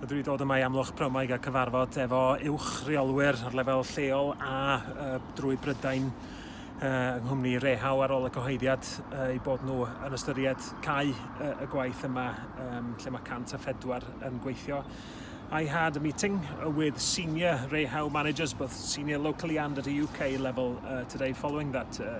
Dwi wedi dod yma i Amlwch Pramwaig a cyfarfod efo uwch reolwyr ar lefel lleol a uh, drwy Brydain uh, yng nghwmni Rehau ar ôl y cyhoeddiad uh, i bod nhw yn ystyried cau uh, y gwaith yma um, lle mae 104 yn gweithio. I had a meeting with senior Rehau managers, both senior locally and at a UK level uh, today following that uh,